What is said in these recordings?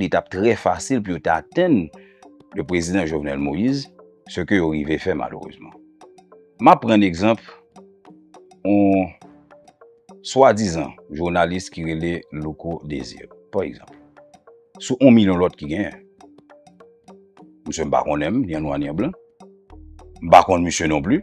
li t ap trè fasil pou yo ta atenn le prezidan Jovenel Moïse, se ke yo rive fè malerezman. M ap pran egzanp yon swadizan jounalis ki rele Louko Desir, pa egzanp, sou yon milyon lòt ki genyen. Msye m pa konnen m, ni an nwa ni an blan. M pa konn msye non pli.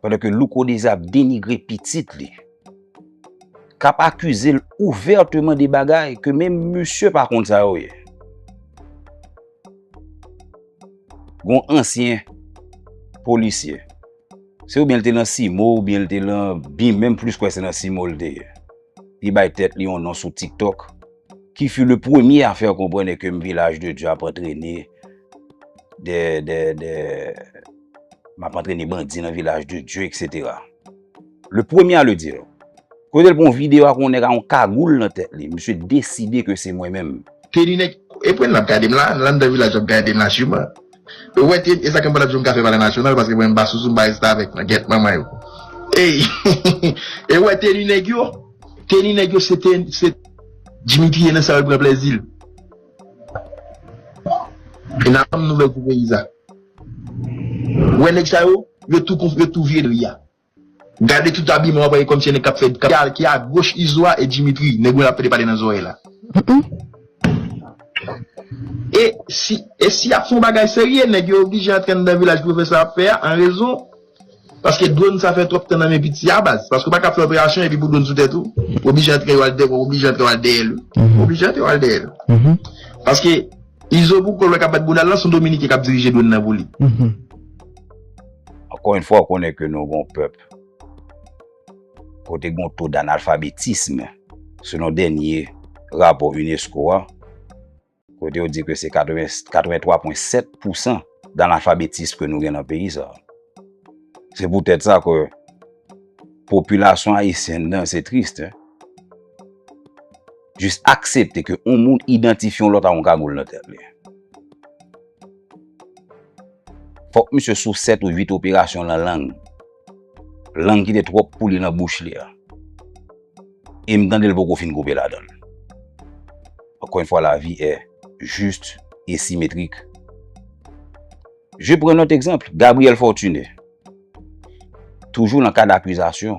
Pandan ke Louko Deza ap denigre pitit li, kap akize l ouvèteman de bagay ke menm misye pa konn sa yo ye. Gon ansyen polisye, se oubyen l te nan CIMO oubyen l te nan bim, menm plis kwè se nan CIMO l te ye. li bay tèt li yon non sou TikTok, ki fut le premye a fè konprenne ke m Vilaj de Dye ap antrene de, de, de, m ap antrene bandi nan Vilaj de Dye, eksetera. Le premye a le dire. Kote l pran yon videyo ak yon nèg ak yon kagoul nan tèt li, misye deside ke se mwen menm. Teni nèg, e pwen l ap gade m la, l anndan Vilaj l ap gade m la siman. Ou wè Ted esa kem patap janm ka fè valè nasyonal paske mwen pa sou zumba restavèk nan gèt manman yo eyy e ou wè teni nèg yo teni nèg yo se se Dimitri ye nan sa yo pran plèzil e nan banm nouvèl pou peyi sa ou wè nèg sa yo yo tou konf yo tou vye dri a. Gade tout abiman wap wè e komsi e nèg kap fè ki a goch izo a e Dimitri nèg mwen ap pede pale nan zorey la e si e si yap fon bagay serye nèg yo oblije antre andan vilaj pwofesè ap fè a an rezon paske dron sa fè twòp tan nan men piti a baz paske ou paka ap fè operasyon epi pou dron sou tèt ou ou oblije antre ou al dèyè ou oblije antre ou al dèyè l ou oblije antre ou al dèyè l paske izo pou kòl wè kap bat boudal lan son dominiken kap dirije dron nan pou li. Ankò yon fwa ou konnen ke nou gon pèp kote gon to d'analfabetism selon dènye rapò unesco a kote yo di ke se 83.7 pousan d'analfabetism ke nou gen nan peyi sa. Se pou tèt sa ke popilasyon ayisyen nan se trist hein jis aksepte ke yon moun idantifye yon lòt ak yon kagoul nan tèt li. Fòk misye sou 7 ou 8 operasyon lan lang. Lang kite twòp pou li lan bouch li a. E m tande l poko fin koupe ladan l. Ankò yon fwa lavi è jist e simetrik. Je pran lòt egzanp, Gabriel Fortuné. Toujou lan kad akizasyon.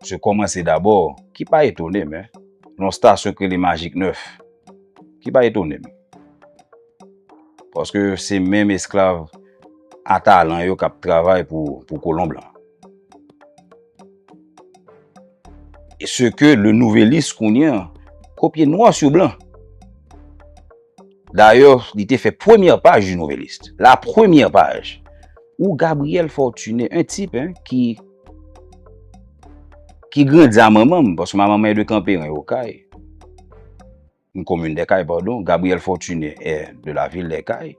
Se kòmanse dabò, ki pa etone m, nan yon stasyon k rele Magik 9, ki pa etone m. Paske se menm esklav a talan yo k ap travay pou kolon blan. E se ke Le Nouvelliste kounye an kopye nwa sou blan. Dayè, li te fè premyè paj du Nouvelliste. La premyè paj! Ou Gabriel Fortuné, un tip, hein, ki, ki grandi a manman m, paske manman m est de Kanperen, yon Okay, yon komin dè Kay, padon, Gabriel Fortuné est de la ville des Cayes.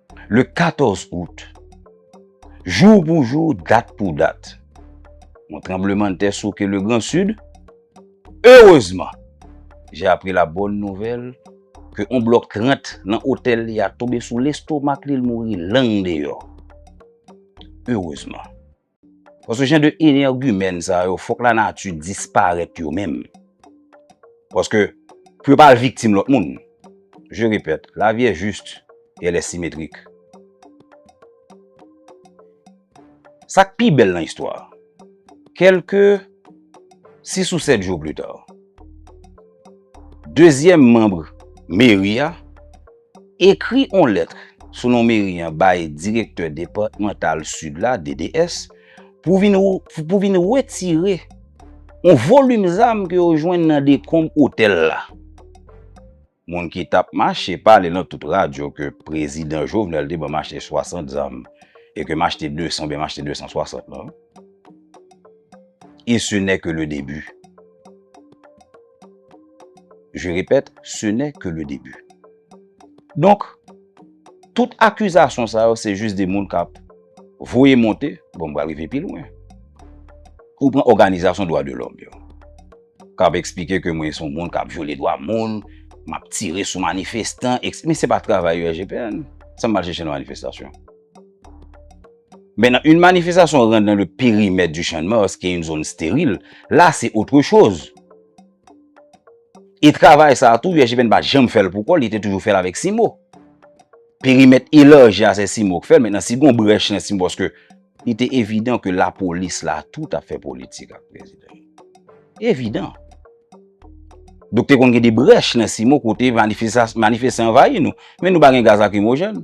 Le 14 out, jou pou jou, dat pou dat, yon tranblemanntè souke le gran sid. Erezman, jè apri la bòn nouvèl ke yon blòk 30 nan otèl li a tonbe sou lestomak li, l mouri lang deyò. Erezman. Paske jan de energumèn sa yo fòk la nati disparèt yo menm. Paske pou yo pa al viktim lòt moun. Je repèt, la vie est juste et elle est symétrique. Sa k pi bèl nan istwa a, kèlke 6 ou 7 jou pli ta, dezyèm manb meri a, Ekri on lèt sou non meri an bay Direktè Depatmantal Sid la, DDS, pou vin pou vin wetire on volim zam ke yo jwenn nan dekonb otèl la. Moun ki tap mache pale nan tout radyo ke Prezidan Jovenel te ban mache 60 zam e ke machte 200 oubyen machte 260 lan. E se nè ke le debi. Je repèt, se nè ke le debi. Donk, tout akizasyon sa yo se jis de moun kap voye monte, bon m pral rive pi lwen, ou pran òganizasyon dwa de lòm yo, kap eksplike ke mwen son moun kap vyole dwa moun, map tire sou manifestan, men se pa travay yo RGPN, sa m al chèche nan manifestasyon? Maintenant, une manifestation rentre dans le périmètre du Champ de Mars, qui est une zone stérile, là c'est autre chose. E travay sa a tou, USGPN pa janm fè l pou kò l, li te toujou fè l avèk CIMO. Perimèt elarji a, se CIMO k fè l. Mentnan, si gon brèch nan CIMO, paske li te evidan ke lapolis la tou t ap fè politik ak prezidan. Evidan. Donk te konn gen de brèch nan CIMO kote manifestan anvayi nou. Men nou pa gen gaz lakrimojèn.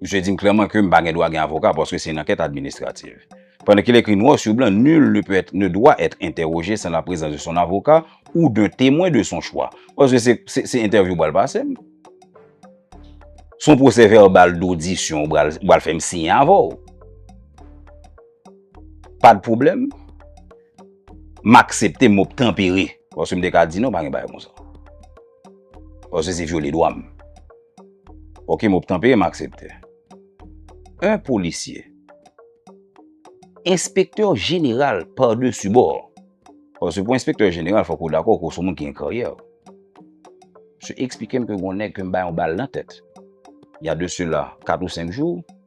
Misye di m klèman ke m pa gen dwa gen avoka paske se yon ankèt administrativ. Pandan ke l ekri nwa sou blan nul ne peut être, ne doit être interrogé sans la présence de son avocat ou d'un témoin de son choix. Paske se, se entèvyou ou pral pase m. Se yon pwosè vèbal dodisyon ou pral, ou pral fè m siyen avè w. Pa de pwoblèm. M aksepte, m obtanpere. Paske m te ka di non, pa gen bagay konsa. Paske se vyole dwa m. Ok, m op tanpere m aksepte. Un policier. Enspektè jeneral par dessus bord. Paske pou enspektè jeneral fòk ou dakò ke w s on moun ki gen karyè. Msye eksplike m ke gen yon nèg ke m bay yon bal nan tèt. Ya de sela 4 ou 5 jou.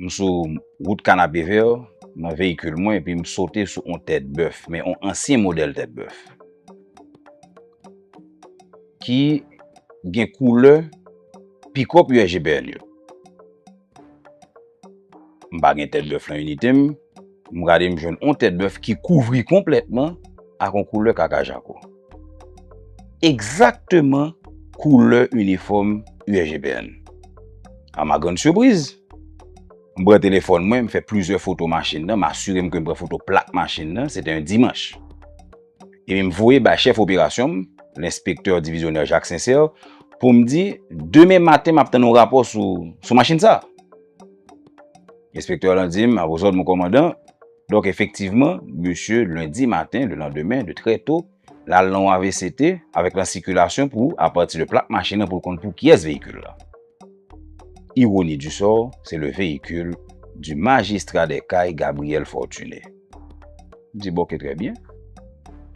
M sou wout Kanapevè nan veyikil mwen epi m sote sou on tèt bèf, men on ansyen modèl tèt bèf ki gen koulè pikòp USGPN yo. M pa gen tèt bèf lan inite m, m gade m jwenn on tèt bèf ki kouvri konplètman ak on koulè kaka jako. Egzakteman koulè inifòm USGPN. A ma grand surprise, m pran telefòn mwen, m fè plizyè foto machin nan, m asire m ke m pran foto plak machin nan, se te yon dimanch. Epi m voye bay chèf operasyon m, lenspektè divizyonè Jacques Sincère, pou m di, demen maten m ap tann yon rapò sou machin sa. Enspektè lan di m, a vos òd mon kòmandan. Donk efektivman, mesye lendi maten, le landemen, de trè to, l al nan yon avct avèk lan sikilasyon pou, apati de plak machin lan pou l konn pou kiyès veyikil la. Ironi du sort, se le veyikil du magistrat des Cayes Gabriel Fortuné. M di bon ke trè byen.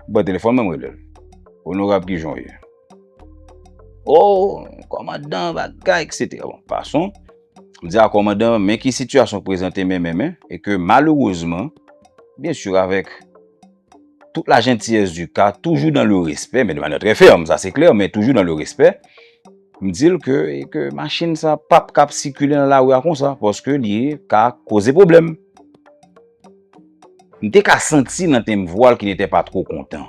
M pran telefòn mwen m rele l. Onorab ki jan w ye? O! Kòmandan bagay etc. Bon, pason. M di a kòmandan, men ki sitiyasyon k prezante men men men, e ke malerezman, byen sur avèk tout la jentiyès di ka, toujou dan le respè, men de manyè trè fèm, sa se klè, men toujou dan le respè, m di l ke, e ke machin sa pa p kab sikile nan lari a konsa, paske li ka koze pwoblèm. M te ka santi nan tenb vwa l ki netè pa two kontan.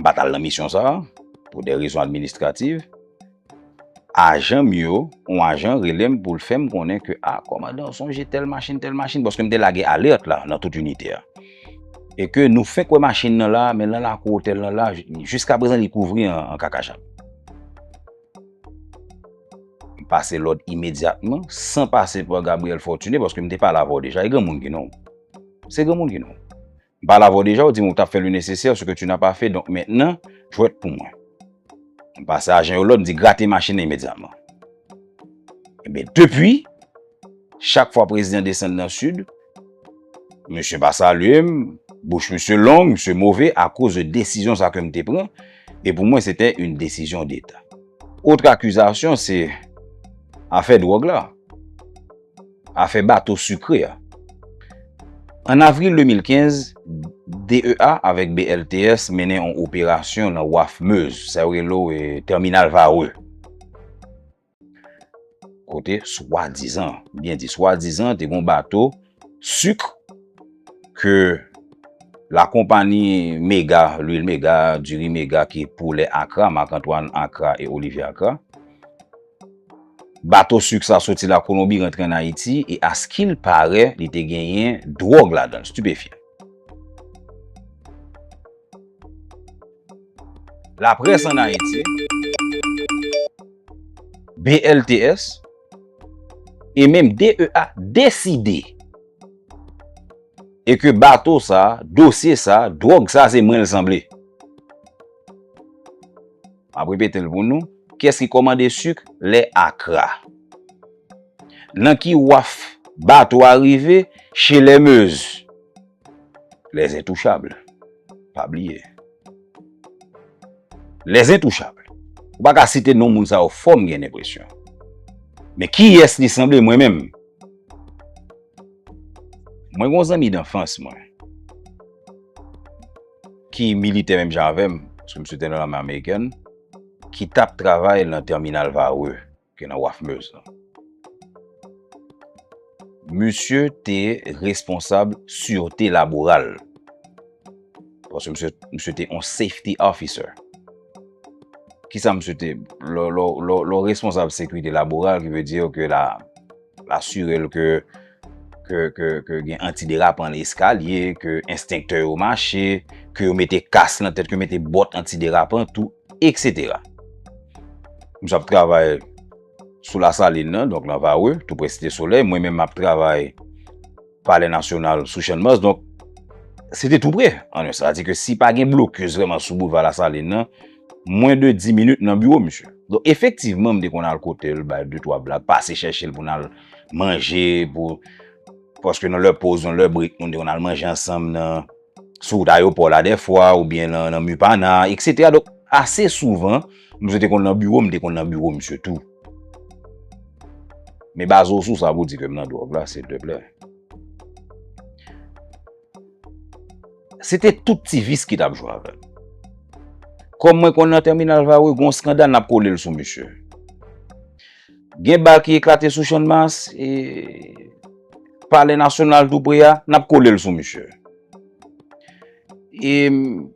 M pa t al nan misyon sa a pou de rezon administrativ. Ajan m yo, yon ajan rele m pou l fè m konnen ke, a, kòmandan ou sonje tèl machin, tèl machin, paske m te lage alèt la nan tout inite a, e ke nou fenk wè machin nan la, men nan lakou otèl nan la, jiskaprezan li kouvri an kakachat. M pase lòd imedyatman, san pase pa Gabriel Fortuné, paske m te pale avè w deja, e granmoun ki non w? Se granmoun ki non w? M pale avè w deja, ou di m ou t ap fè le nesesè, ce que tu n'as pas fait, donk mentnan, jwèt pou mwen. M pase ajan yo lòd, m di grate machin nan imedyatman. Enben, depi, chak fwa prezidan desann nan Sid, misye pa salye m, bouch misye long, misye move akoz de desizyon sa ke m te pran, e pou mwen se te yon desizyon deta. Otre akizasyon se afè dwòg la. Afè bato sikre a. An avril 2015, DEA avèk BLTS mennen yon operasyon nan waf Meuse, sa yo rele w Terminal Varreux, kote swadizan, m byen di swadizan, te gen yon bato sikre ke lakonpani Mega, Lwil Mega, Diri Mega ki poulè Akra, Marc Antoine Akra e Olivier Akra, Bato suk sa soti la Kolonbi rantre an Ayiti e a skil pare li te genyen dwog ladann, stupefyan. La press an Ayiti, BLTS, e menm DEA deside e ke bato sa, dosye sa, dwog sa se mwen l sanble. M ap repete l pou nou. Kiyès ki kòmande suk lè akra? Nan ki waf bato a rive? Che lè mez. Lèzentouchabl. Pa bliye. Lèzentouchabl. Ou pa ka site non moun sa yo fò m gen lenpresyon. Men kiyès li sanble mwen menm? Mwen gen yon zanmi danfans mwen. ki militè menm jan avèm, paske misye te nan lame amerikèn, ki tap travay nan terminal Varreux, ki nan waf Meuse lan. Misye te responsab surete laboral, paske misye te yon safety officer. Kisa misye te, lò responsab sekurite laboral, ki ve diyo ke la, Asire l ke gen antiderapan nan eskalye, ke enstenktè yo mache, ke yo mete kas nan tèt, ke yo mete bòt antiderapan tou, eksetera. Misye ap travay sou Lasalin nan, donk nan Varreux, tou pre Site Solèy. Mwen menm m ap travay. Palè Nasyonal sou Channmas. Donk, se te tou pre. An yon sa, di ke si pa gen blokis vreman sou Boulva Lasalin nan, mwen de 10 minit nan biwo misye. Donk, efektivman, m te konn al kote l, bay 2, 3 blag, pase chèche l pou n al manje, pou, paske nan lè poz, nan lè brik, moun te konn al manje ansanm nan, sou wout ayopò la dè fwa, ou byen nan Mupana, eksetera. Donk, ase souvan, misye te konn nan biwo m, m te konn nan biwo misye tou. Men baz ou sou sa pou di ke m nan dwòg la silteplè. Se te tout ti vis ki t ap jwe avè m. Kòm mwen konn nan tèminal Varreux gen yon skandal n ap kole l sou misye. Gen bal ki eklate sou Channmas e palè nasyonal tou pre a, n ap kole l sou misye. E m.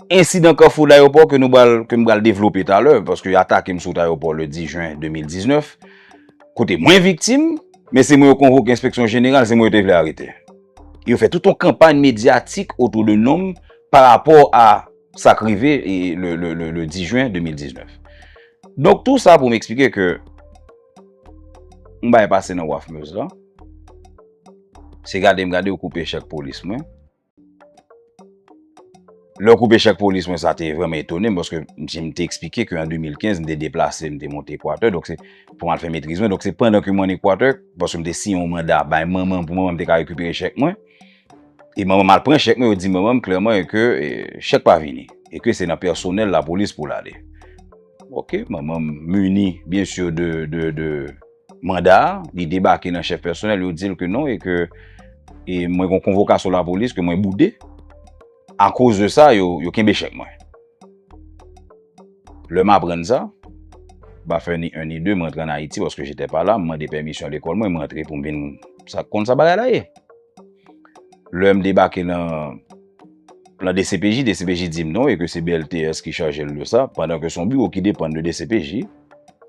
Ensidan Kafou Dayopò ke nou pral, ke m pral devlope talè, paske yo atake m sou wout ayopò le 10 jen 2019, kote mwen viktim, men se mwen yo konvoke enspeksyon jeneral, se mwen yo te vle arete. E yo fè tout yon kanpay medyatik otou de non m pa rapò a sa k rive le 10 jen 2019. Donk tou sa pou m eksplike ke yon bagay pase nan waf Meuse la, se gade m gade yo koupe chèk polis mwen. Lè w koupe chak polis mwen sa te vreman etone m paske msi m te eksplike ke an 2015 m te deplase m te monte Ekwatè donk se pou m al fè metriz mwen donk se pandan ke m an Ekwatè paske m te siyen yon manda bay manman m pou manman m te ka rekipere chèk mwen e manman m al pran chèk mwen yo di manman m klèman e ke chèk pa vini e ke se nan pèsonèl lapolis pou l ale ok manman m mini byen sur de de de manda a, li debake nan chèf pèsonèl, yo di l ke non e ke e mwen gon konvokasyon lapolis ke mwen boude, akoz de sa yo, yo kenbe chèk mwen. Lè m aprann sa, m pa fè ni 1 ni 2, m rantre an Ayiti paske j'étais pas là, m mande pèmisyon lekòl mwen, m rantre pou m vin sa konn sa bagay la ye. Lè m debake nan nan dcpj, dcpj di m non e ke se BLTS ki chaje l de sa, pandan ke son biwo ki depann de dcpj,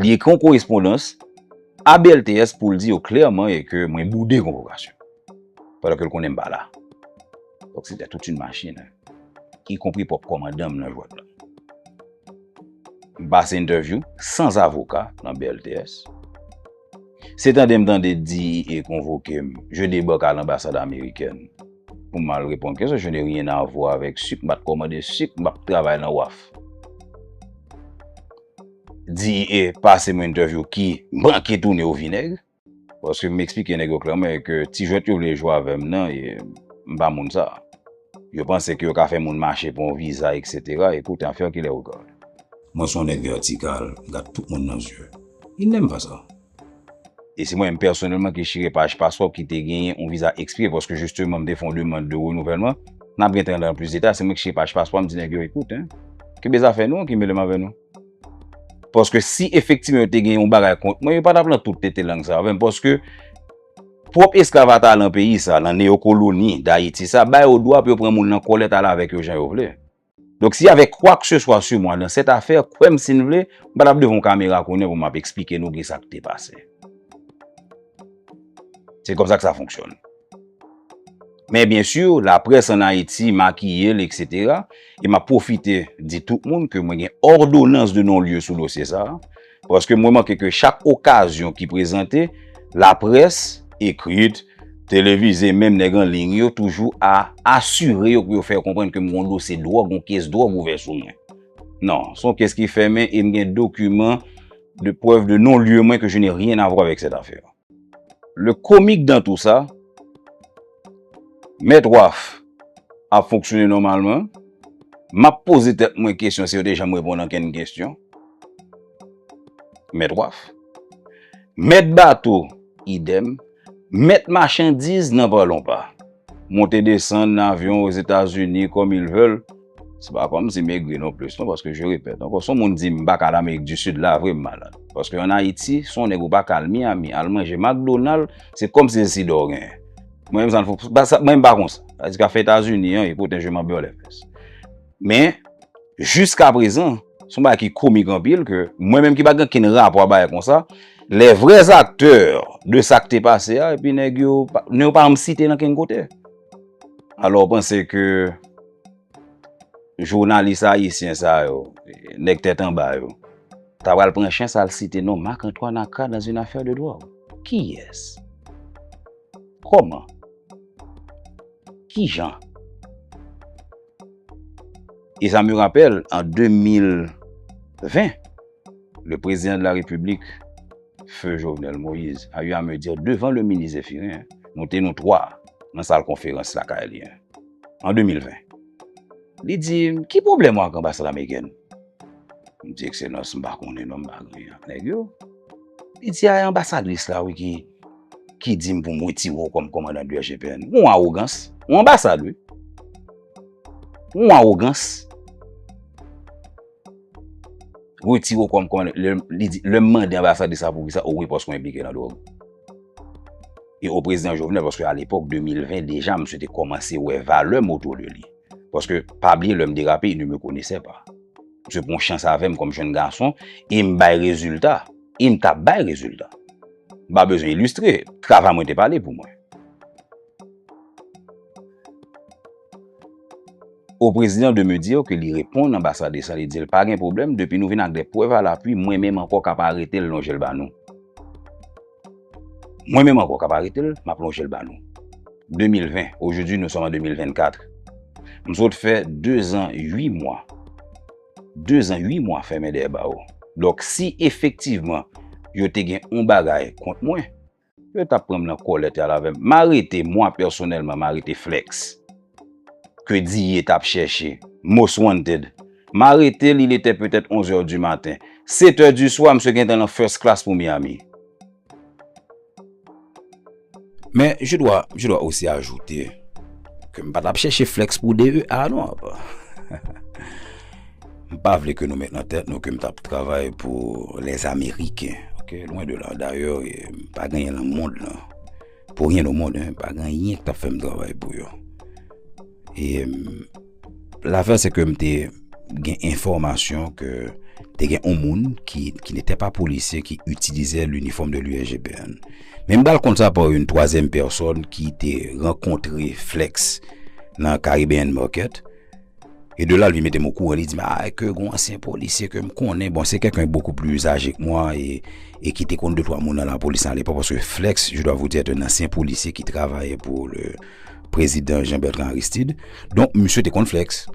li ekri yon korespondans a BLTS pou l di yo klèman e ke mwen boude konvokasyon. Padan ke l konnen m pa la. Donk se te tout yon machin. Y konpri pwòp kòmandan m nan jwèt la. M pase entèvyou san zavoka nan BLTS. Se tande m tande DEA konvoke m, je debak a lanbasad amerikèn pou m al reponn kesyon. Je ne rien a vwa avèk sik, m pa t kòmande sik, m pa t travay nan waf. di e pase mwen entèvyou ki manke tounen o vinèg. Paske m eksplike nèg yo klèman ke ti jwèt yo vle jwe avè m nan e m pa moun sa. Yo panse ke yo ka fè moun mache pou yon viza eksetera, écoute en faire qu'il est regarde. Mwen son nèg vètikal, m gad tout moun nan zye. Il n'aime pas ça. E se mwen menm pèsonèlman ki chire paj paspò ki te genyen yon viza ekspire paske jisteman m te fè yon demand de renouvèlman. N ap gen tan nan plis deta. Se mwen ki chire paj paspò a, m di nèg yo, Ekout, kenbe zafè nou an ki mele m avè nou. Paske si efektivman yo te gen yon bagay kont mwen, yo pa t ap lan tout tete lang sa avè m. Paske pwòp esklav atalan peyi sa, lan neyokoloni Dayiti sa, ba yo dwa pou yo pran moun lan kòlèt ale avèk yo jan yo vle. Donk si avè kwak se swa su mwa dan sèt afè, kwè m si n vle, m pa t ap devan kamera kounye pou m ap esplike nou ki sa k te pase. Se kon sa k sa fonksyòn. Men byen su, laprès an Ayiti makiye l eksetera, e m ap pwofite di tout moun ke mwen gen òdonans de non lye sou dosye sa a, Paske m remake ke chak okazyon ki prezante, laprès, ekrit, televize, menm nèg an liy yo toujou a asire yo pou yo fè yo konprann ke m gon dosye dwòg, gon kes dwòg ouvè sou mwen. Non, se yon kes ki fèmen e m gen dokiman de prèv de non-lye mwen ke je n'ai rien à voir avec cette affaire. Le comique dans tout sa, mèt Waf ap fonksyone nòmalman, m ap poze tèt mwen kesyon si yo te janm reponn ankenn kesyon, mèt Waf, mèt bato idèm, mèt machandiz nan pa lon pa, monte desann nan avyon Ozetazini kòm il vèl. Se pa kòm si m egri non plis non paske je repèt ankò si yon moun di m pa ka al amerik di sid la vre m malad paske an ayiti si yon nèg ou pa ka al miyami al manje makdonal se kòm si se sid a w genyen mwen menm sa m mwen menm m pa konsa sa di ka fè etazini an e poten je m anbè w lè fès men jiska prezan se yon bagay ki komik anpil ke mwen menm ki pa gen okenn rapò a bagay konsa lè vrè zaktè de sa k te pase a epi nèg yo nèg yo pa janm site nan kenn kote alò w panse ke Jounalis ayisyen sa yo, nèg tèt anba yo, ta pral pran chans al site non Marc Antoine Accra dans une affaire de drogue? Kiyès? Kòman? Kijan? E sa me rapèl, an 2020, le prezidan de la repiblik, feu Jovenel Moïse, a eu a me dire devan le minis Zephirin, nou te nou 3 nan sal konferans lakay li. an 2020. Li di m, ki pwoblèm ou ak anbasad amerikèn? M di, ekselans, m pa konnen non, m pa gen ak nèg yo. Li di, a e anbasadris la wi ki di m pou m wetire w kòm kòmandan DGPN. Yon awogans, yon anbasad wi. Yon awogans. Wetire w kòm kòmandan, li di, lè m mande anbasadris la poukisa, o wi paske w enplike nan dwòg. E o prezidan Jovenel, paske a l'epok 2020, deja msye te komanse wè valè moto de li. Paske, pa bliye lèm derape, il ne me connaissait pas. Msye pran chans avèm kòm jèn gason, e m bay rezilta. E m tap bay rezilta. M pa bezwen ilistre, travay mwen te pale pou mwen. O prezidan de me dire ke li reponn anbasade san li di l pa gen pwoblèm, depi nou vin ak de prèv a lapwi, mwen menm ankò kap arete l lonje l ba nou. Mwen menm ankò kap arete l, map lonje l ba nou. 2020, ojoudwi nou sòm an 2024. M sot fè 2 zan 8 mwa. 2 zan 8 mwa fèmen dèyè bawo. Donk si efektivman yo te gen yon bagay kont mwen, yo tap pran m nan kòlèt y al avè m. M arete, mwa pèsonèlman, m arete Flex. ke Diye t ap chèche. Most Wanted. M arete l, il était peut-être 11 heures du matin. 7 heures du soir, msye gentan lan first class pou Miami. Men, je dois, je dois aussi ajouter ke m pa t ap chèche flex pou DEA non. M pa vle ke nou met nan tèt nou ke m t ap travay pou les Américains, ok, loin de là. D'ailleurs, m pa genyen lan mond lan. Pou ryen o mond, pa gen anyen ki t ap fè m travay pou yo. E lafè se ke m te gen enfòmasyon ke te gen yon moun ki nete pa polisye ki itilize linifòm de l'USGPN. Men m ba l kont sa pa yon twazyèm pèsòn ki te rankontre Flex nan Caribbean Market. E de la li mete mou kouran, li di ma a ke gwa ansyen polisye ke m konnen, bon se kèk an bokou pli aje k mwa e ki te konn de twa moun nan la polis nan alepo, paske Flex, je dwa vou di, ete un ansyen polisye ki travaye pou le prezidan Jean Bertrand Aristide, donk misye te konn Flex.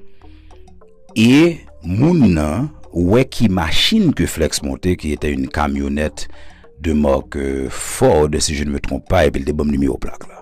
E moun nan, wè ki machin ke Flex monte, ki ete un kamyonet de mark euh, Ford, si je ne me trompe pas, epi li te banm nimewo plak la.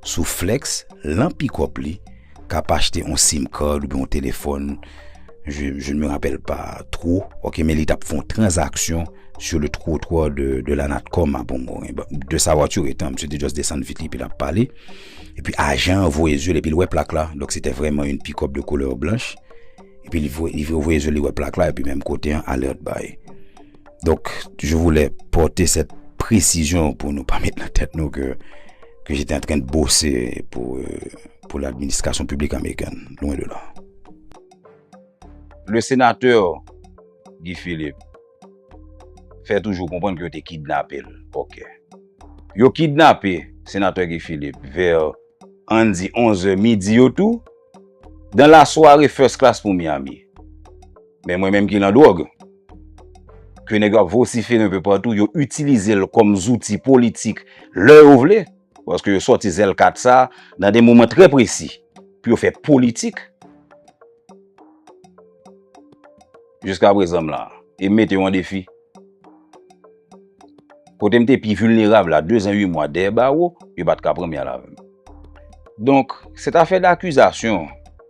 Sou flex lan pickup li kap achte on sim card oubyen on telefòn je ne me rappelle pas trop ok men li tap fon transaksyon sur le trottoir de, de la Natcom a bon bon de sa voiture etan msye te just desann vit li epi lap pale epi ajan voye zye l epi l wè plak la donk se te vrèman yon pickup de couleur blanche epi li voye zye l li wè plak la epi menm kote an alert bay. Donk, je voulais porter cette précision pou nou pa met nan tèt nou ke ke j'étais en train de bosser pou euh, pou l'administration publique américaine. Loin de là. Le sénateur Guy Philippe fè toujou konprann ke yo te kidnape l. Ok. Yo kidnape sénateur Guy Philippe vers ann di 11 heures midi yo tou, dans la soirée first class pou Miami. Men mwen menm ki nan dwòg, ke nèg yo ap vosifere anpe patou, yo itilize l kòm zouti politik lè yo vle, paske yo sòti zèl kat sa nan de moman trè presi pou yo fè politik. Jiska prezan m la, e m mete yo an defi, kote m te pi vilnerab la, dezan ui mwa dèyè bawo, yo pa t ka pran m yal avè m. Donk, sètafè dakizasyon,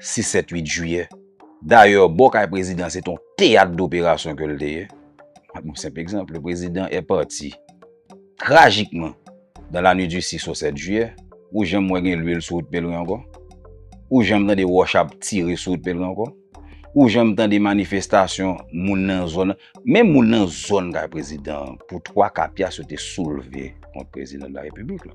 6 7 8 jiyè dayè bò kay prezidan se ton teyat doperasyon ke l te ye map yon senp egzanp le prezidan e pati trajikman dan la nwit di 6 o 7 jiyè ou janm wè gen lwil sou wout pelren ankò ou janm tande wòch ap tire sou wout pelren ankò ou janm tande manifestasyon moun nan zòn menm moun nan zòn kay prezidan pou 3 ka pyas yo te soulve kont prezidan de la repiblik la.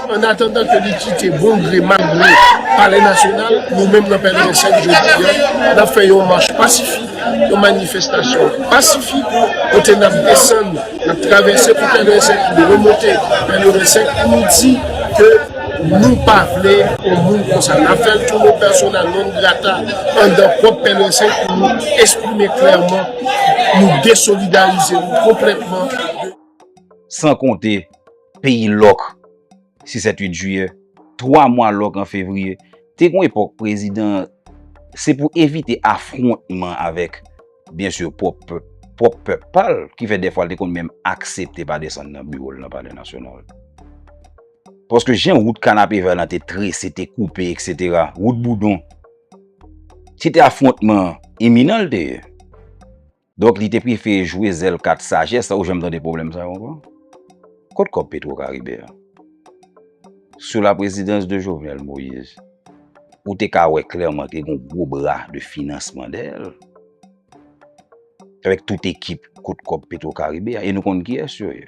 An atandan ke li kite bon gre mal gre Palè Nasyonal, nou menm nan pnh jodi an, nap fè yon mach pasifik, yon manifestasyon pasifik kote nap desann, nap travèse pou pnh, nou remonte pnh pou nou di ke nou pa vle yon moun konsa. Nap fèl tou nou persona non grata andan pwòp pnh pou nou esprime klèman nou desolidarize nou konplètman de. San konte. Peyi lòk, 6 et 8 jiyè, 3 mwa lòk an fevriye, te gon epòk prezidan se pou evite afwontman avèk byen sur pwòp pèp pa l ki fè dèfwa l te konn menm aksepte pa desann nan biwo l nan palè nasyonal. Paske jan wout Kanapevè lan te trese, te koupe eksetera, wout Boudon, se te afwontman iminan l te ye. Donk li te prefere jwe zèl kat sajès la ou janm tande pwoblèm sa yo ankò? Kot kòb petro karibe a? Sou la prezidans de Jovenel Moise ou te ka wè klèman ke gon gwo bra de finansman dèyè l avèk tout ekip kot kòb petro karibe a e nou konn kiyès yo ye.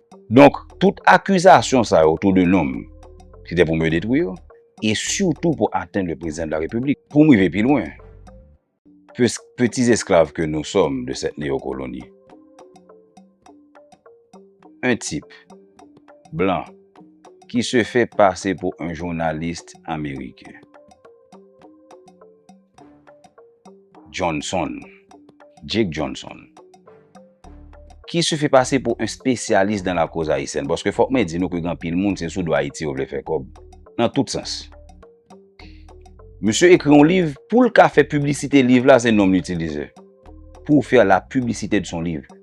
Donk, tout akizasyon sa yo otou de nonm, se te pou me detwi yo, e sitou pou atenn le Prezidan de la Repiblik. Pou m rive pi lwen, pwisk peti esklav ke nou sòm de sèt neyokoloni, en tip, blan, ki se fè pase pou en jounalist ameriken, Johnson, Jake Johnson, ki se fè pase pou un spesyalis dan la koz ayisyèn, paske fòk mwen di nou ke gen anpil moun se sou do Ayiti yo vle fè kòb, nan tout sans. Misye ekri yon liv, poul ka fè piblisite liv la se nom li itilize, pour faire la publicité de son livre.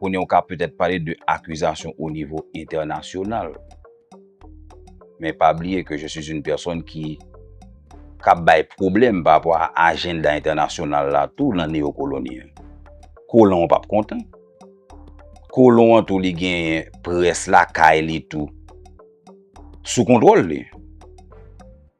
Kounye ou ka petèt pale de akizasyon o nivo entènasyonal. Men pa bliye ke je suis une personne ki kap bay pwoblèm pa rapò a ajenda entènasyonal la tou nan neyokoloni an. Kolon an pap kontan. Kolon an tou li genyen près lakay li tou sou kontwòl li.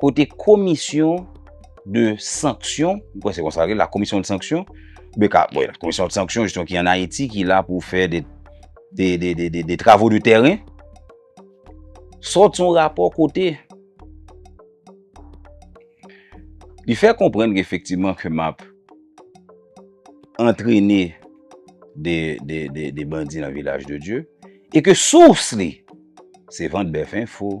Kote komisyon de sanksyon, mwen kwè se konsa li, la komisyon de sanksyon, beka, bon, la komisyon de sanksyon, jistyon ki an Ayiti, ki la pou fè de, de, de, de, de, de travo de tèren, sòt son rapò kote, li fè konprenn ki efektivman ke map antrene de, de, de, de bandi nan vilaj de Diyo, e ke sous li, se vant bèf enfo,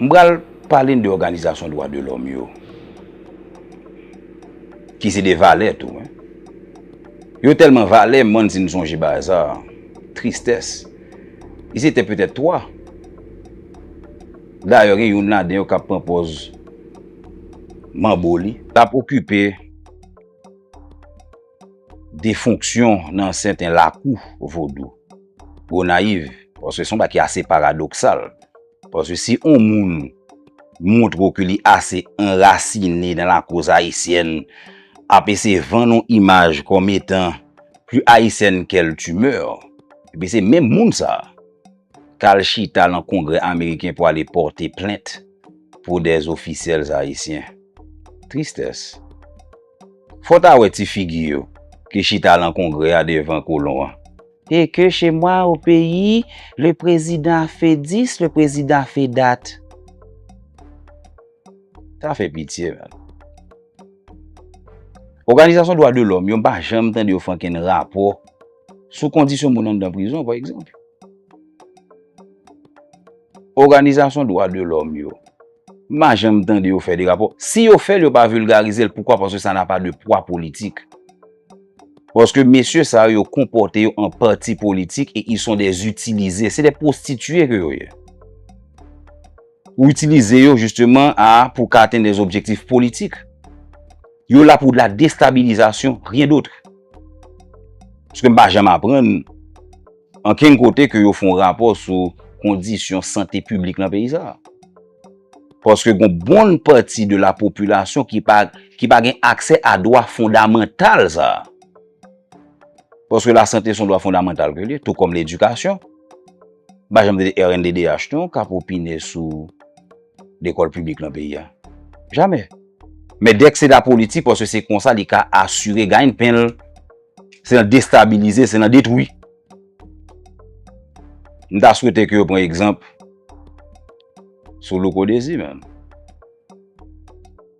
M pral pale n de òganizasyon dwa de lòm yo, ki se de valè tou. Yo tèlman valè, m bann si n sonje Baza, Tristès, ils étaient peut-être twa. Dayè gen youn ladan yo k ap pran pòz manbo li. L ap okipe. de fonksyon nan sèten lakou vodou. Gonayiv, paske son ba ki ase paradoksal, paske si on moun montre ou ke li ase anrasine nan lakoz ayisyèn, ape se van non imaj kòm etan pli ayisyèn kèl timè, epi se menm moun sa, kal chita lan kongrè ameriken pou ale pòte plent pou dè zofisyèl ayisyen. Tristès. Fò ta wè ti figi yo ki chita lan kongrè a devan kolon an. E ke che mwa o peyi, le prezidan a fe dis, le prezidan a fe dat. Sa fè pitye menn. Oganizasyon dwa de lòm yo m pa janm tande yo fè ankenn rapò sou kondisyon moun anndan prizon pa egzanp. Oganizasyon dwa de lòm yo. M pa janm tande yo fè de rapò. Si yo fè l, yo pa vilgarize l. Poukwa? Paske sa na pa de pwa politik. Paske mesye sa yo, yo konpòte yo an pati politik e ils sont des utilisés. Se de pwostitiye ke yo ye. Ou itilize yo jisteman a pou ka atenn des objektif politik. Yo la pou de la destabilizasyon, rien d'autre. Paske m pa janm aprann. Ankenn kote ke yo fè yon rapò sou kondisyon sante piblik nan peyi sa a. Paske gon bon pati de la popilasyon ki pa ki pa gen aksè a dwa fondamantal sa a. Paske la sante son dwa fondamantal ke li ye, tou kòm ledikasyon. M pa janm tande rnddh non k ap opine sou lekòl piblik nan peyi a. Jamè. Men dèk se la politik paske se konsa li ka asire ganyen pen l. Se nan destabilize, se nan detwi. M ta swete ke yo pran egzanp sou Louko Dezi menm.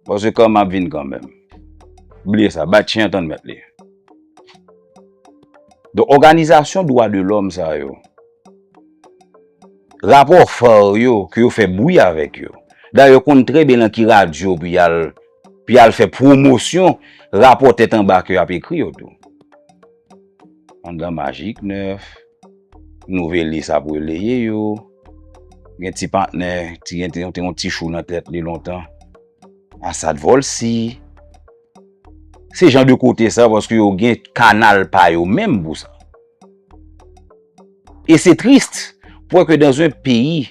Pase kan m ap vin kan menm. Bliye sa, bat chen an tann mèt li. Don òganizasyon dwa de lòm sa yo, rapò far yo ke yo fè bwi avèk yo, dayè yo konn trè byen nan ki radyo pou y al. Pi al fè pwomosyon rapò tèt anba ke ap ekri yo tou. Andan majik nèf, nouvelis ap releye yo, gen ti patnè, ti gen te yon ti chou nan tèt li lontan, asad vòlsi. Se jan de kote sa paske yo gen kanal pa yo menm pou sa. E se trist pou wè ke dan zon peyi.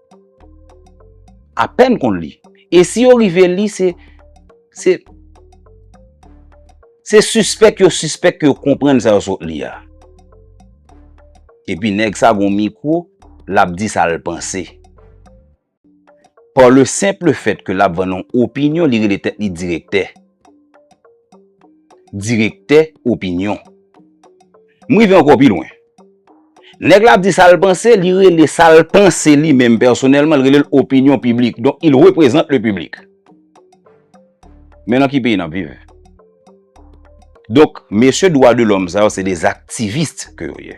Apèn konn li. E si yo rive li, se, se, se sispèk yo sispèk ke yo konprann sa yo sot li a. E pi nèg sa gon mikwo, l'ap di sa l'panse. Par le simple fait ke l'ap vann yon opinyon, li rele tèt li direktè. Direktè opinyon. M rive ankò pi lwen. Nèg la ap di sa l panse, li rele sa l panse li menm pèsonèlman, li rele l opinyon piblik. Donk, il reprezante le public. Men nan ki peyi n ap viv? Donk, mesye dwa de lòm sa yo se des activistes ke yo ye.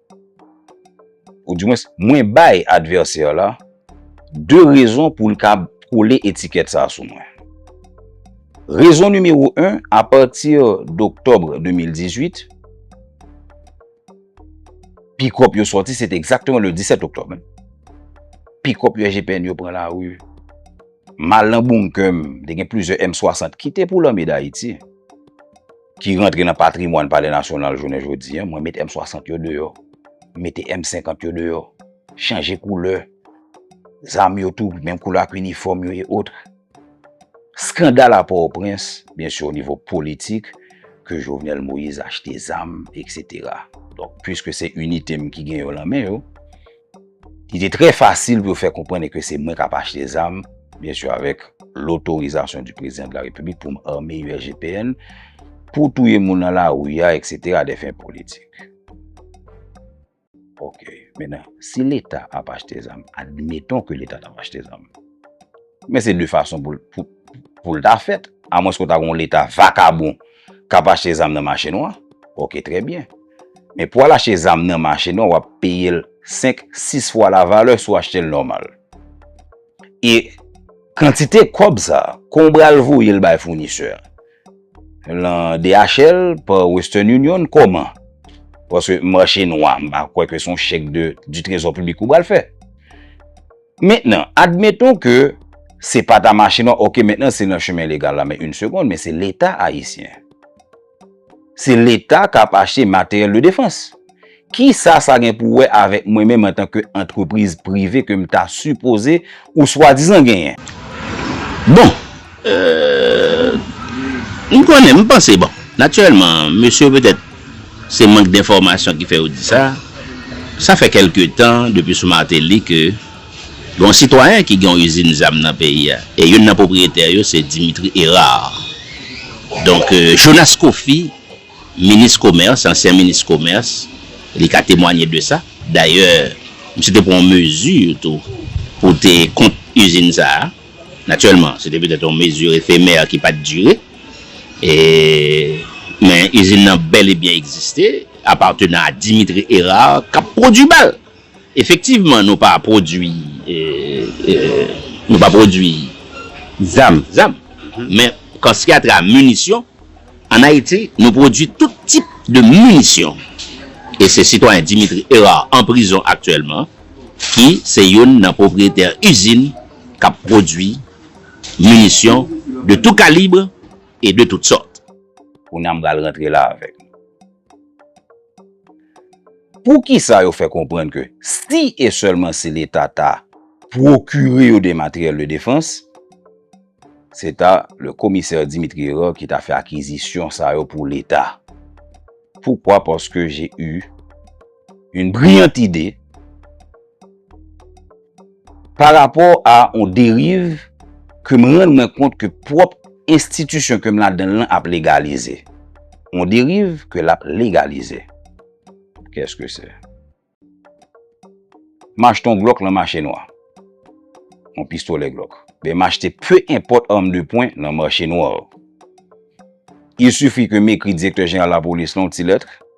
Ou di mwen, mwen bay advèsè la 2 rezon pou l ka kole etikèt sa sou mwen. Rezon nimewo 1, apati doktòb 2018, pikòp yo sòti, se te egzakteman le 17 oktòb, pikòp yo SGPN yo pran lari, m al nan bounke m, te gen plizyè M60 ki te pou lame dayiti. ki rantre nan patrimwàn palè nasyonal jounen jodi an, mwen met M60 yo deyò, m mete M50 yo deyò, chanje koulè, zam yo tou, menm koulè ak inifòm yo e otre. Skandal a Pòtoprens, byen si o nivo politik, ke Jovenel Moïse achte zam, eksetera. Donk, pwiske se inite m ki gen yo lan men yo, Li te trè fasil pou yo fè konprann ke se mwen kap achte zam, byen su avèk lotorizasyon di prezidan de la repiblik pou m ame USGPN, pou touye moun nan lari a, eksetera, a dè fen politik. Ok, mennen, si leta ap achte zam, admeton ke leta tap achte zam, men se de fason pou l ta fèt, a mwens ke w ta gen yon leta vakabon, K ap achte zam nan mache nwa. Ok trè byen. Men pou al achte zam nan mache nwa w ap peye l 5, 6 fwa la valè si w achte l nòmal. E kantite kòb sa a, kon w bral voye l bay founisè a? Lan DHL, pa Western Union, kòman? Paske mache nwa, m pa kwè ke s on chèk de di trezò piblik ou bral fè. Mentnan, admeton ke se pa ta mache non, ok mentnan se nan chemen legal la, men yn segond, men se leta ayisyen. Se leta kap achte materyèl de defans. Kisa sa gen pou wè avèk mwen menm antan ke antrepriz prive kem ta sipoze ou swadizan genyen? Bon! Eeuh m konnen m panse bon natirèlman mesye yo petèt se mank denfòmasyon ki fè yo di sa, sa fè kèlke tan depi sou Martelly ke gen yon sitwayen ki gen yon izin zam nan peyi a e youn nan pwopriyetè yo se Dimitri Herard donk Jonas Coffy minis komès ansyen minis komès li ka temwanye de sa dayè misye te pran yon mezi tou pou te kont izin sa a. Natirèlman, se te petèt yon mezi efemè ki pa t dire, men izin nan bèl e byen egziste, apatenan a Dimitri Herard, k ap pwodui bal. Efektivman, nou pa pwodui nou pa pwodui zam, men kansyatra minisyon. An Ayiti, nou pwodui tout tip de minisyon. E se sitwayen Dimitri Herard an prizon aktyèlman ki se youn nan pwopriyetè izin k ap pwodui minisyon de tou kalibre e de tout sòt. Kounye a m pral rantre la avèk nou. Poukisa yo fè konprann ke si e sèlman si Leta ta pwokire yo de materyèl de defans, se ta le komisè Dimitri Hérard ki ta fè akizisyon sa yo pou Leta? Poukwa? Paske j'ai eu une brillante idée. Pa rapò a on deriv ke m rann mwen kont ke pwòp enstitisyon ke m ladan l lan ap legalize. On deriv ke l ap legalize. Kès ke se? M achte on glòk lan mache nwa. On pistolè glòk. Ben m achte pe enpòt arm de pwen lan mache nwa. Il sifi ke m ekri direktè jeneral lapolis lan on ti lèt.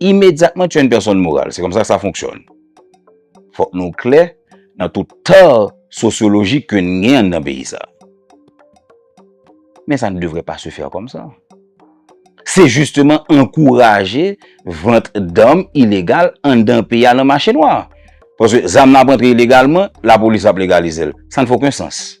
Imedyatman tu es une personne morale. Se konsa sa fonksyòn. Fòk nou klè nan tout tort sosyolojik ke n gen anndan peyi sa. Men sa ne devrait pas se faire comme ça. Se jisteman ankouraje vant dam ilegal anndan peyi a nan mache nwa. Paske zam nan ap antre ilegalman, lapolis ap legalize l. Sa ne fait aucun sens.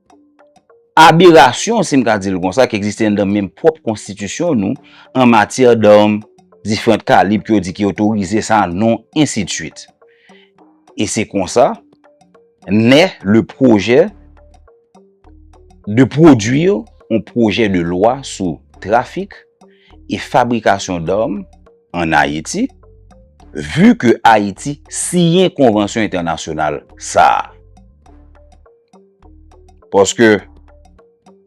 Aberasyon, si m ka di l konsa, ki egziste anndan menm pwòp konstitisyon nou, an matyè dam diferant kalib ke yo di ki otorize sa non, ensidsuit. E se konsa, nè le pwojè de pwodwir yon pwojè de lwa sou trafik e fabrikasyon dam an Ayiti, vu ke Ayiti siyen konvansyon entènasyonal sa a. Paske,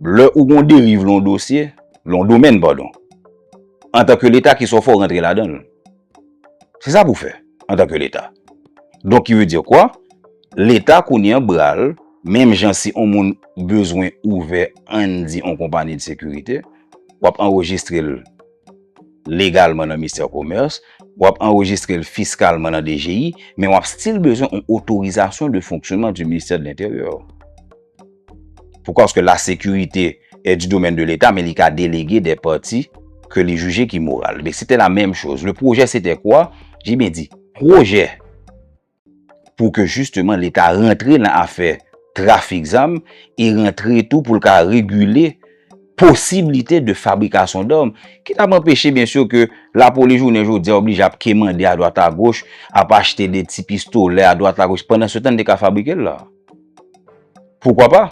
lè ou gon deriv lon dosye, lon domèn padon, antan ke leta ki sa w fè w rantre ladan l? Se sa pou w fè, antan ke leta. Donk ki vle di kwa? Leta kounye an bra l, menm jan si on moun bezwen ouvè ann di on konpani de sekirite, w ap anrejistre l. legalman nan Mistè Komès, w ap anrejistre l fiskalman nan DGI, men w ap stil bezwen yon otorizasyon de fonksyonman di Ministè de Lenteryè. Poukwa? Paske la sekirite e di domèn de Leta, men li ka delege de pati ke li jije ki moral. Be, se te la menm choz. Le pwojè se te kwa? Jibyen di, pwojè. pou ke jisteman leta rantre nan afè trafik zam e rantre tou pou l ka regile posiblite de fabrikasyon dòm ki t ap anpeche byen sou ke lapolis jounen jodi a oblije ap kemande a dwat a goch ap achte de ti pistolè a dwat a goch pandan se tan n te ka fabrike l la poukwa pa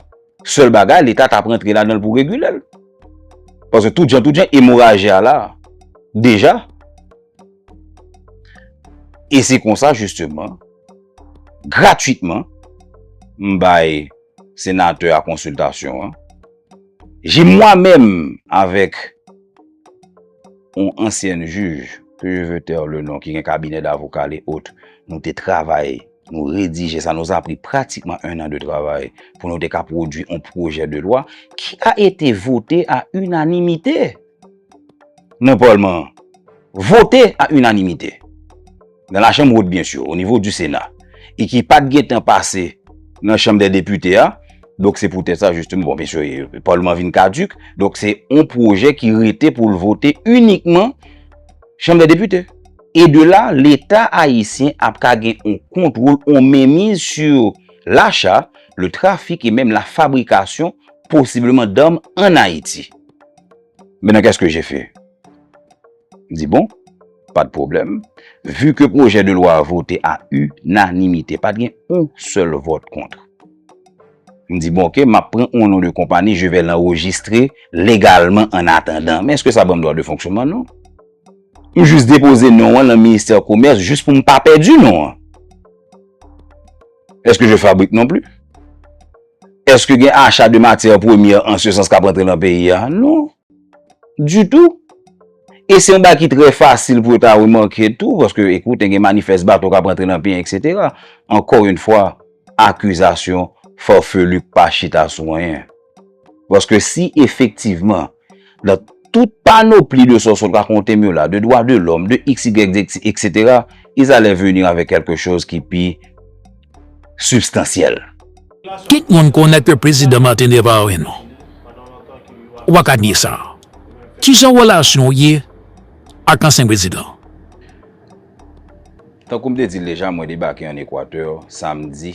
sèl bagay leta t ap rantre ladan l pou regile l paske tout jan tout jan emoraji a la deja. E se konsa jisteman, gratwitman, m bay senatè a konsiltasyon an. Je mwa menm avèk yon ansyen jij, ke je ve tèr le non, ki gen kabinè davoka li ot, nou te travay, nou redije sa, nou sa pri pratikman 1 an de travay pou nou te ka pwodwi yon pwojè de lwa ki a ete vote a inanimite. nan palman an vote a inanimite nan la chanm wot byen sur o nivo di sena e ki pat gen tan pase nan chanm dè depite a donk se pou tèt sa jisteman bon byen sur palman vin kaduk donk se yon pwojè ki rete pou l vote inikman chanm dè depite. E de la leta ayisyen ap ka gen yon kontwol yon menmiz sur lacha le trafik e menm la fabrikasyon posibleman dam an ayiti. Maintenant, qu'est-ce que j'ai fait? Di bon, pa de problèm, vu ke projè de lwa vote a unanimite, pa gen yon sèl vòt kont. M di bon, ok, m ap pran yon non de konpani, je vè l'enregistre legalman an atandan. Men, eske sa ban m dwa de fonksyonman? Non. M jis depoze non an nan ministè komès, jis pou m pa pèdi non an. Eske je fabrik non pli? Eske gen acha de matyè premye an se sans ka prantre nan peyi a? Non. Du tou. E se yon ba ki trè fasil pou yo ta remake tou, paske ekoute gen manifès bato ka prantre nan peyi, etc. Ankò yon fwa, akizasyon fòfelu pa chita sou anyen. Paske si efektivman, nan tout panopli de sa w sot rakonte m yo la, de dwa de lòm, de x, y, z, etc. Ils allaient venir avec quelque chose ki pi sibstansyèl. Tout moun konnen ke Prezidan Martelly pa anyen non. Ou pa ka nye sa. Ki jan relasyon w ye ak ansyen prezidan? Tankou m te di l deja, mwen debake an Equateur samdi.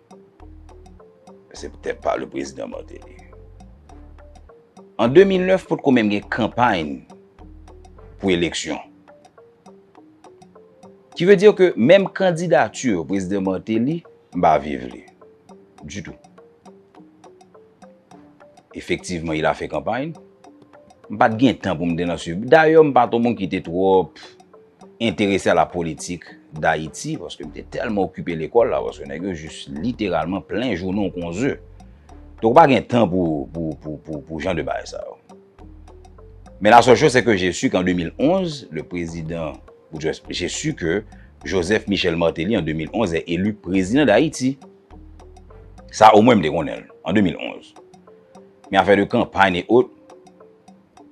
Se ptèt pa le prezidan Martelly. An 2009 potko menm gen kanpay pou eleksyon. Ki ve dir ke menm kandidati prezidan Martelly m pa viv li. Ditou. Efektivman il a fè kanpay. M pat gen tan pou m te nan swiv. Dayè m pat yon moun ki te twòp enterese a la politik Dayiti paske m te tèlman okipe lekòl la paske nèg yo jis literalman plen jounen w kon ze. Donk w pa gen tan pou pou pou jan de bagay sa yo. Men la sèl chòz se ke je su ke an 2011 le prezidan Boutros je su ke Joseph Michel Martelly an 2011 è elu prezidan Dayiti. Sa omwen m te konnen l an 2011. Men afè de kanpay e ot.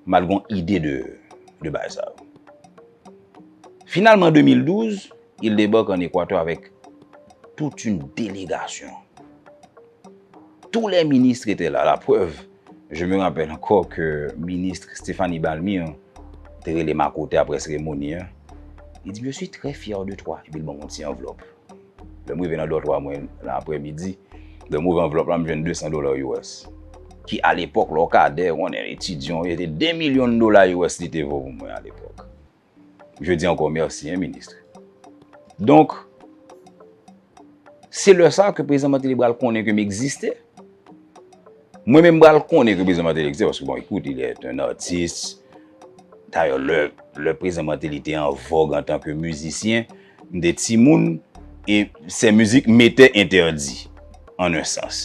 mal gon ide de de bagay sa yo. Finalman 2012, il debarque en Équateur avec toute une délégation. Tous les ministres étaient là, la preuve, je me rappelle encore que ministre Stéphanie Balmir te rele m a kote apre seremoni an, li di m je suis très fière de toi, epi l ban m yon ti anvlòp. Lè m rive nan dòtwa mwen nan aprè midi, lè m ouvè anvlòp la m jwenn 200 dola US. Ki alepòk lè w kadè, ou konnen etidyon, se te 2 milyon dola US li te vo pou mwen alepòk. Je di ankò mèsi hein ministre. Donk, se lè sa ke Prezidan Martelly pral konnen ke m egziste. Mwen menm m pral konnen ke Prezidan Martelly egziste paske bon écoute il est un artiste dayè lè lè Prezidan Martelly te an vòg antan ke mizisyen m te timoun e sè mizik m etè entèdi an un sans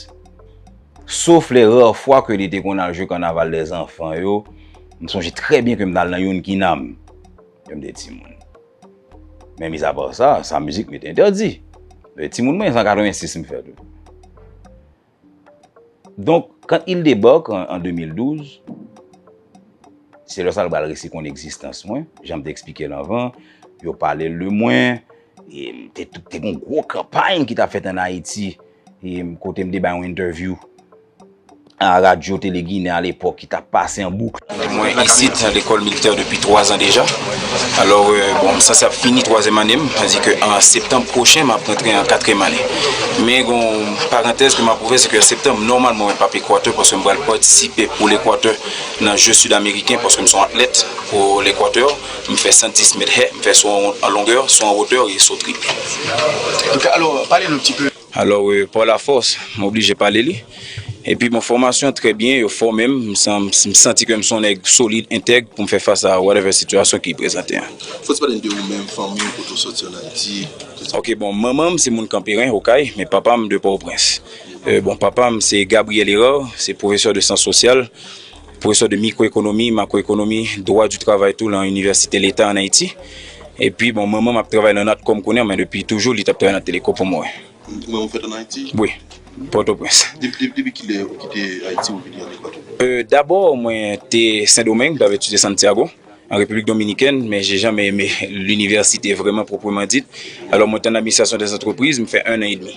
sof lè rare fwa ke li te konn al jwe kanaval dè zanfan yo m sonje trè byen ke m t al nan youn kinam lè m te timoun men mizapar sa sa mizik m etè entèdi lè timoun mwen se an 86 m fèt wi. Donk, quand il débarque en 2012, se lè sa l pral resi konn egzistans mwen, jan m te eksplike l anvan, yo pale l de mwen, e te gen yon gwo kanpay ki t ap fèt ann Ayiti, kote m te bay yon entèvyou a radyo Tele Ginen a lepòk, ki t ap pase an boukl. Mwen isit a lekòl militè depi 3 zan deja. Alò, bon, m sanse ap fini twazyèm ane m, sa di ke an septanm pwochen m ap rantre an katriyèm ane. Men gen yon parantèz ke m ap ouvè, se ke an septanm, nòmalman mwen p ap Ekwatè paske m pral patisipe pou Lekwatè nan je sid ameriken paske m se yon atlèt pou Lekwatè. M fè 110 mèt hè, m fè so an longè, so an wotè e so tripl. Ok, alò, pale nou ti pe. Alò euh paw la fòs m oblije pale li epi bon fòmasyon trè byen yo fòme m m santi ke m son nèg solid entèg pou m fè fas a whatever sitiyasyon ki prezante an. Fòs pale n de ou menm, fanmi w kote w sòti an Ayiti, tout sa. Ok bon manman m se moun kanperen okay men papa m de pòtoprens euh bon papa m se Gabriel Herard se pwofesè de syans sosyal Pwofesè de mikwoekonomi, makwoekonomi, dwa di travay tou lan Inivèsite Leta an Ayiti. Epi bon manman m ap travay lan Natcom kounye an men depi toujou li t ap travay nan Teleco pou mwen. Manman w fèt an Ayiti? Wi, Pòtoprens. Depi kilè ou kite Ayiti ou vini ann Ekwatò? Dabò mwen te Sendomeng, m t ap etidye Santiago, an Repiblik Dominikèn, men je janmen eme linivèsite vrèman pwopreman dit. Alò mwen te ann Administrasyon dèzantrepriz, m fè ennan edmi.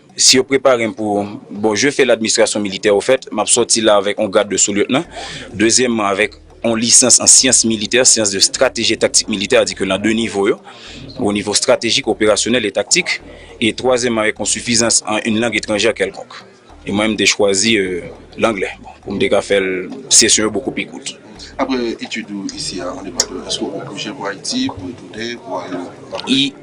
Si yo prepare m pou Bon, je fè ladministrasyon militè ofèt, map sòti la avèk on grad de sou-lyetnan. Dezyèmman, avèk on lisans an syans militè, sciences de stratégie et tactique militaire, adike lan de nivo yo, o nivo stratejik, operasyonèl e taktik. E twazyèmman, avèk on sifizans an in lang etranjè kèlkonk. E mwen, m te chwazi langlè, bon, pou m te ka fè l, sesyon yo bokou pi kout. Apre etid ou isi a an Ekwatè, èske ou gen pwojè pou Ayiti, pou retounen, pou ale nan Pòtoprens?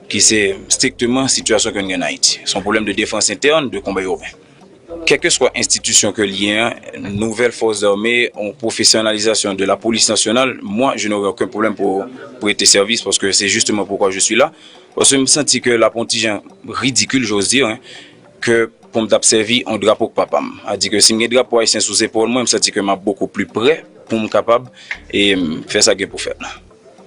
ki se strikteman sitiyasyon ke nou gen an Ayiti, se yon pwoblèm de defans entèn, de konba iwopen. Kèlkeswa enstitisyon ke li ye an, nouvèl fòs zame, yon pwofesyonalizasyon de lapolis nasyonal, mwa je n'ore oken pwoblèm pou prete sèvis paske se jisteman poukwa je swi la, paske m santi ke l ap yon ti jan ridikil, j'ose dire, ke pou m t ap sèvi yon drapo k pa pa m. A di ke si m gen drapo ayisyen sou zepòl mwen, m santi ke m ap bokou pli prè pou m kapab fè sa gen pou fèt la.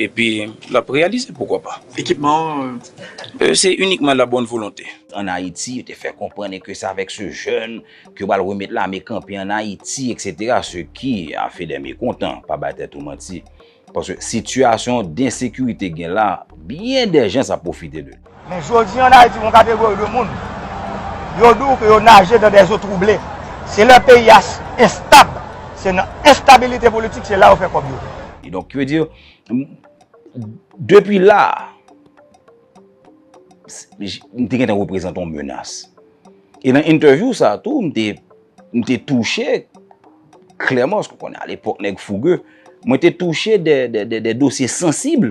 Epi l ap reyalize, poukwa pa. Ekipman an. Se inikman la bonne volonté. An Ayiti, yo te fè konprann e ke se avèk se jèn ke yo pral remèt lame kanpe an Ayiti, eksetera, se ki a fè dè mekontan, pa bay tèt ou manti. Paske sitiyasyon densekirite gen la, byen dè jans ap pwofite de li. Men jodi an Ayiti yon kategori de moun yo di w ke yo naje dan dè zo twouble. Se lè peyi a enstab, se nan enstabilite politik se la yo fè kòb yo. E donk ki ve di, depi la, m te gentan reprezante yon menas. E nan entèvyou sa tou, m te, m te touche klèman, paske w konnen a lepòk nèg fouge, mwen te touche dè, dè, dè dosye sansib.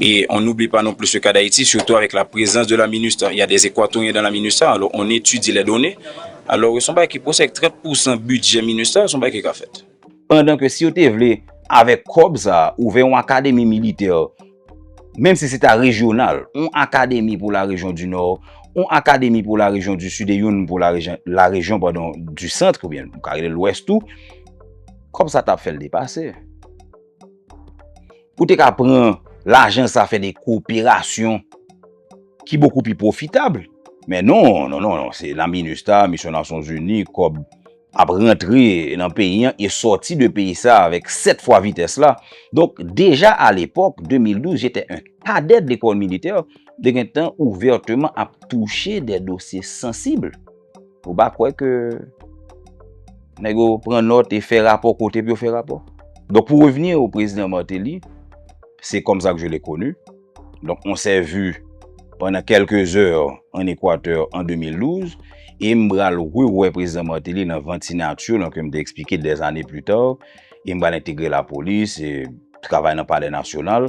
E on n'oublie pas non plus le cas d'Haïti surtout avec la présence de la Minustah, il y a des Equatoriens dans la Minustah alors on étudie les données alors son bagay ki posib avec 30 pour cent budget Minustah son bagay ki ka fèt. Pandan ke si yo te vle avèk kòb sa a ouvè yon akademi militè menm si se ta rejyonal, yon akademi pou la rejyon di Nò, yon akademi pou la rejyon di Sid e youn pou la rejyon padon di Centre oubyen nou ka rele l Lwès tou, kòb sa ta ap fè l depase. Ou te ka pran lajan sa fè de koperasyon ki bokou pi pwofitab. Men non, non, non, non, se nan minustah, misyon nasyon zini, kòb ap rantre nan peyi an e sòti de peyi sa avèk 7 fwa vitès la. Donk, deja a lepòk, 2012, jete en kadèt lekòl militè, te gen tan ouvèteman ap touche de dosye sansib. Ou pa kwè ke nèg yo pran nòt e fè rapò kote pou yo fè rapò? Donk pou revni o prezidan Martelly, se kòm sa ke je le koni, donk on sè vu pandan kelke zè an Ekwatè an 2012, e m bral rewè prezidan Martelly nan vant sinati yo, nan ke m te eksplike dè zane pli ta, e m bral entegre lapolis, e travay nan palè nasyonal.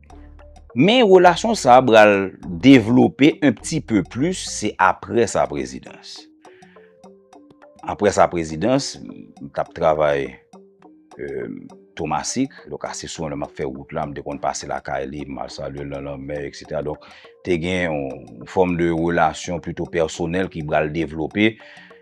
Men relasyon sa a pral devlope un pti peu plus se apre sa prezidans. Apre sa prezidans, m tap travay Tomasik, donk ase souvan lè m ap fè wout la m te konn pase lakay li, m al salye l nan lanmè eksetera. Donk te gen yon fòm de relasyon pito pèsonèl ki pral devlope.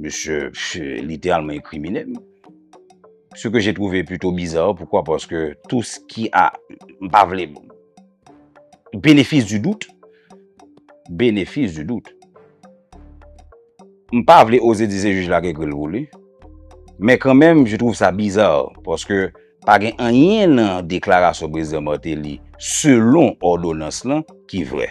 Misye literalman inkrimine m. Se ke je twouve pito biza, poukwa? Paske tou s ki a, m pa vle, benefis di dout, benefis di dout, m pa vle oze di se jij la ki ekri l pou li, men kan menm je twouve sa biza, paske pa gen anyen nan deklarasyon prezidan Martelly selon òdonans lan ki vre.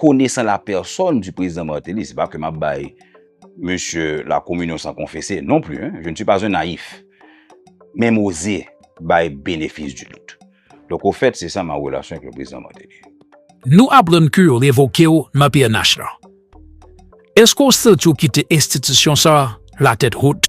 Konesan la pèsòn di prezidan Martelly, se pa ke map bay mesye la kominyon san konfese non pli, je ne suis pas un naïf, men m oze bay benefis di dout. Donk o fèt se sa ma relasyon ak le prezidan Martelly. Nou aprann ke yo revoke w nan pnh lan. Eske w santi w kite enstitisyon sa la tèt hot?